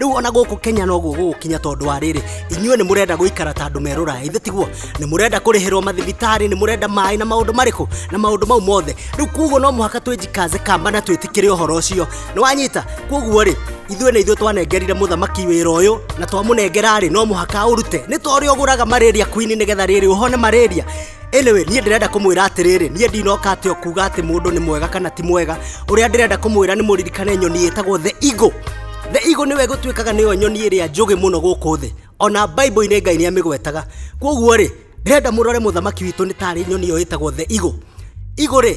rĩu ona gũkũ kenya noguo gũgũkinya tondũ wa rĩrĩ inyuĩ nĩ mũrenda gũikara ta andũ merũra ithe tiguo nĩ mũrenda kũrĩhĩrwo mathibitarĩ nĩ mũrenda maĩ na maũndũ marĩkũ na maũndũ mau mothe rĩu kuguo no mũhaka twĩnjikaze kamba na twĩtĩkĩre ũhoro ũcio nĩ wanyita kuguo rĩ ithuĩ nĩ ithuĩ twanengerire mũthamaki wĩra ũyũ na twamũnengera rĩ no mũhaka ũrute nĩ ta ũrĩa ũgũraga malaria queen nĩgetha rĩrĩ ũhone malaria Anyway, niĩ ndĩrenda kũmwĩra atĩrĩrĩ niĩ ndinoka atĩ o kuga atĩ mũndũ nĩ mwega kana ti mwega ũrĩa ndĩrenda kũmwĩra nĩ mũririkane nyoni ĩtagwo the eagle the eagle nĩwe gũtuĩkaga nĩyo nyoni ĩrĩa njũgĩ mũno gũkũ thĩ ona bible-inĩ ngai nĩ amĩgwetaga kwoguo rĩ ndĩrenda mũrore mũthamaki witũ nĩ tarĩ nyoni ĩyo ĩtagwo the eagle eagle rĩ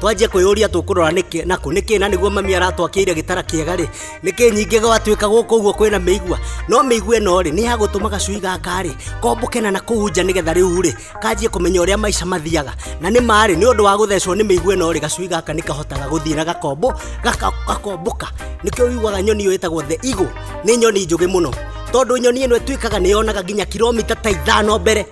twanjie kwĩyũria tũkũrora nĩkĩ nakũ nĩkĩ na nĩguo mami aratwakĩire gĩtara kĩega rĩ nĩkĩ nyingĩ gwatuĩka gũkũ ũguo kwĩna mĩigua no mĩigua ĩno rĩ nĩ ya gũtũma gacui gaka rĩ komboke na na kũu nja nĩgetha rĩu rĩ kanjie kũmenya ũrĩa maica mathiaga na nĩ marĩ nĩ ũndũ wa gũthecwo nĩ mĩigua ĩno rĩ gacui gaka nĩ kahotaga gũthiĩ na gakombo gaka- gakomboka nĩkĩo wiguaga nyoni ĩyo ĩtagwo the eagle nĩ nyoni njũgĩ mũno tondũ nyoni ĩno ĩtuĩkaga nĩ yonaga nginya kilomita ta ithano mbere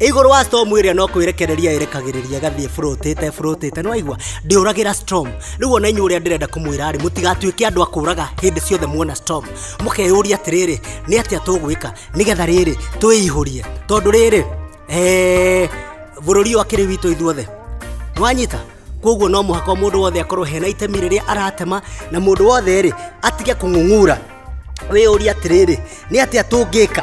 igũrũ wa storm ĩrĩa no kwĩrekereria ĩrekagĩrĩria gathiĩ bũrũtĩte bũrũtĩte nĩ waigua ndĩũragĩra storm rĩu ona inyuĩ ũrĩa ndĩrenda kũmwĩra rĩ mũtigatuĩke andũ a kũũraga hĩndĩ ciothe muona storm mũkeyũria atĩrĩrĩ nĩ atĩa tũgwĩka nĩgetha rĩrĩ twĩihũrie tondũ rĩrĩ eh, bũrũri ũyũ akĩrĩ witũ ithuothe nwanyita koguo no mũhaka mũndũ wothe akorwo hena itemi rĩrĩa aratema na mũndũ wothe rĩ atige kũng'ung'ura wĩyũria atĩrĩrĩ nĩ atĩa tũngĩka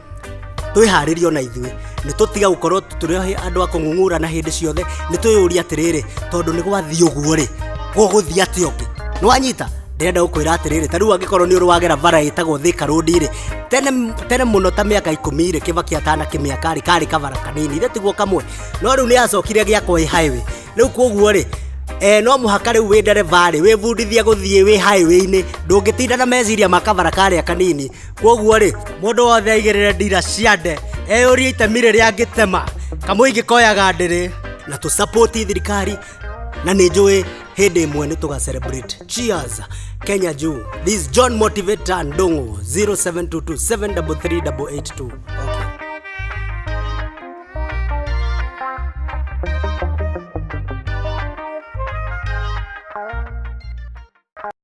twĩharĩrie ona ithuĩ nĩ tũtiga gũkorwo tũrĩ andũ a kũng'ung'ũrana hĩndĩ ciothe nĩ twĩyũria atĩrĩrĩ tondũ nĩ gwathiĩ ũguo rĩ gũgũthiĩ atĩ ũngĩ nĩ wanyita ndĩrenda gũkwĩra atĩrĩrĩ ta rĩu angĩkorwo nĩ ũrĩ wagera bara ĩtagwo thĩka rũndi rĩ tene tene mũno ta mĩaka ikũmi rĩ kĩbaki atana kĩmĩaka rĩ karĩ kabara kanini ithe tiguo kamwe no rĩu nĩ yacokire gĩakwo ĩ highway rĩu koguo rĩ Eh, no mũhaka rĩu wĩ ndereba rĩ wĩbundithie gũthiĩ wĩ highway-inĩ ndũngĩtinda na meciria ma kabara karĩa kanini kwoguo-rĩ mũndũ wothe aigĩrĩre ndira cia nde eyũrie itemi rĩrĩa angĩtema kamũingĩ koyaga ndĩrĩ na tũsapoti thirikari na nĩ njũĩ hĩndĩ ĩmwe nĩ tũga celebrate cheers kenya juu this john motivator ndongo 0722733882 okay.